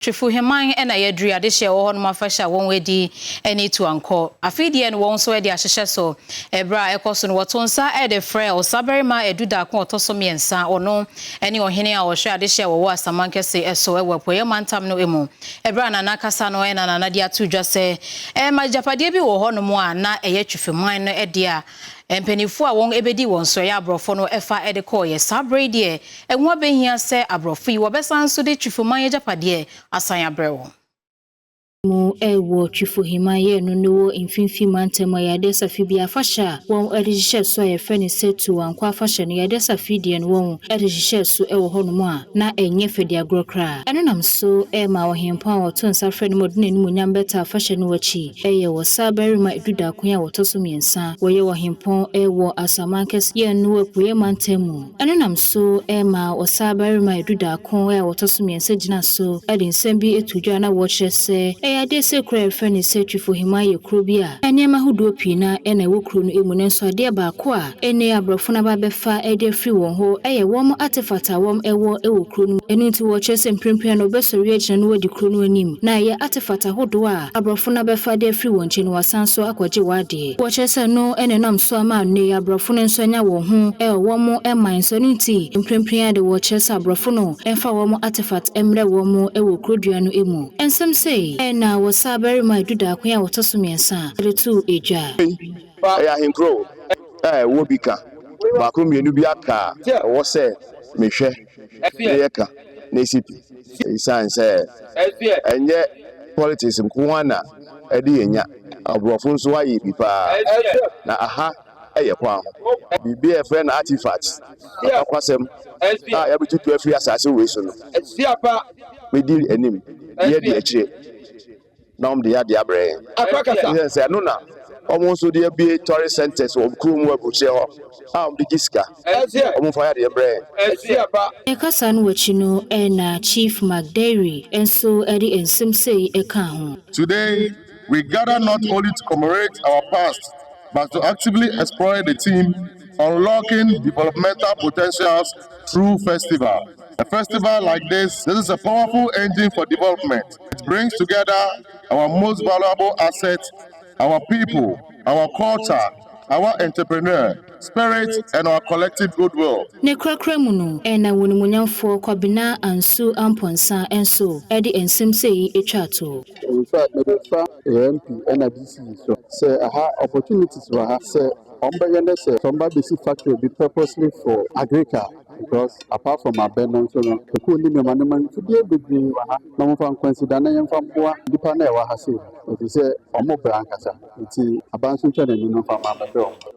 Twefuheman na yɛdri adehye a ɛwɔ hɔ nom afahyɛ a wɔn adi ne Tuankɔ. Afei deɛ no wɔn nso ɛde ahyehyɛ so. Ɛberɛ a ɛkɔ so no wɔto nsa ɛde frɛ Ɔsabarima a ɛdu daako a ɔtɔ so mmiɛnsa. Ɔno ne Ɔhene a ɔhwɛ adehye a wɔwɔ Asamankɛse so ɛwɔ Apueɛ Mantam no mu. Ɛberɛ a Nana kasa no na Nana de ato dwa sɛ ɛɛ ma agyapadeɛ bi wɔ hɔ nom a na ɛyɛ Twefuheman no dea. Mpaninfoɔ a wɔn bɛdii wɔn so ɛyɛ aborɔfo no fa de kɔeɛ. Saa berɛ yi deɛ ɛho abɛhia sɛ aborɔfo yi wɔbɛsan nso de Twifoman agyapadeɛ asan abrɛ wɔn. mu wɔ Twifoheman yɛɛ no no wɔ Mfimfini Mantam a yɛade asa firi bia afahyɛ a wɔn de hyehyɛ so a yɛfrɛ no sɛ Tuoankɔ afahyɛ no yɛade asa firi deɛ no wɔn de hyehyɛ so wɔ hɔ nom a na ɛnyɛ fɛ de agorɔ koraa ɛno nam so ma Ɔhempɔn a wɔto nsa frɛ no ma ɔde n'animuonyam bɛtaa afahyɛ no akyi Ɛyɛ wɔ saa barima dudaako a wɔtɔ so mmiɛnsa a wɔyɛ ɔhempɔn wɔ asaman kɛseɛ a ɛno wɔ apueɛ mantam mu. Ɛno nam so ma ɔsaa barima dudaako a wɔtɔ so mmiɛnsa gyina so de nsɛm bi to dwa na wɔkyerɛ sɛ ɛyɛ adeɛ sɛ kuro a yɛfrɛ no sɛ Twifohima yɛ kuro bi a nneɛma ahodoɔ pii no ara na ɛwɔ kuro no mu nanso adeɛ baako a Ɛnne a aborɔfo no aba bɛfa de afiri wɔn hɔ yɛ wɔn artefact a wɔn wɔ wɔ kuro no mu. Ɛno nti wɔkyerɛ sɛ mprempren no wɔbɛsɔre agyina na wɔadi kuro no anim na ɛyɛ artefact ahodoɔ a aborɔfo no abɛfa de afiri wɔn nkyɛn na wɔasan nso akɔgye wɔn adeɛ. Wɔkyerɛ sɛ ɛno na ɛnam so ama nnɛ yi aborɔfo no nso anya wɔn ho wɔ wɔn man so. Ɛno nti mprempren ara de wɔkyerɛ sɛ aborɔfo no mfa wɔn artefact mmrɛ wɔn wɔ kuro dua no mu. Nsɛm sei na wɔsaa bɛrema a ɛdu daakon a ɔtɔ so mmiɛnsa de too dwa. Ɛyɛ ahenkurow a ɛwɔ bi ka, baako mmienu bi aka a ɛwɔ sɛ mehwɛ na yɛka na esi pi. Esiane sɛ ɛnyɛ politics nko ara na ɛde yɛn nya, aborɔfo nso ayɛ bi paa. Na aha yɛ kwan ho. Biribi a yɛfrɛ no artifacts, akwakwasɛm a yɛabetutu afiri asase wei so no, medi anim, yɛadi akyire. na wɔde yɛ adeɛ abrɛ yɛn. Esiane sɛ ɛno na wɔn nso de abue tourist centres wɔ wɔn kurom wɔ aburokyire hɔ a wɔde gye sika. Wɔmfa yɛ adeɛ mbrɛ yɛn. Ne kasa no akyi no na Chief McDairy nso de nsɛm sei kaa ho. Today, we gather not only to commemorate our past but to actively explore the theme Unlocking Developmental Potentials True Festival, A festival like this, this is a powerful engine for development. It brings together our most valuable asset, our people, our culture, our entrepreneur spirit and our collective goodwill. Ne korakora mu no, ɛna wonimuonyamfoɔ Kwabena Ansuo Amponsah nso de nsɛm sei twaa to. Mede fa AMP ɛna DC so sɛ aha opportunities wɔ ha sɛ Wɔn bɛyɛ ne sɛ wɔn ba bɛsi factory bi purposely for agrica because apart from abɛ no nso no ɛkuo ne nneɛma nneɛma mfidie bebree wɔ ha na wɔmfa nkwansidane yɛmfa mmoa nnipa no a ɛwɔ ha sei ɛfiri sɛ wɔn brɛ ankasa nti aba nso ntwa n'ani no mfa mma mmɛhwɛ wɔn.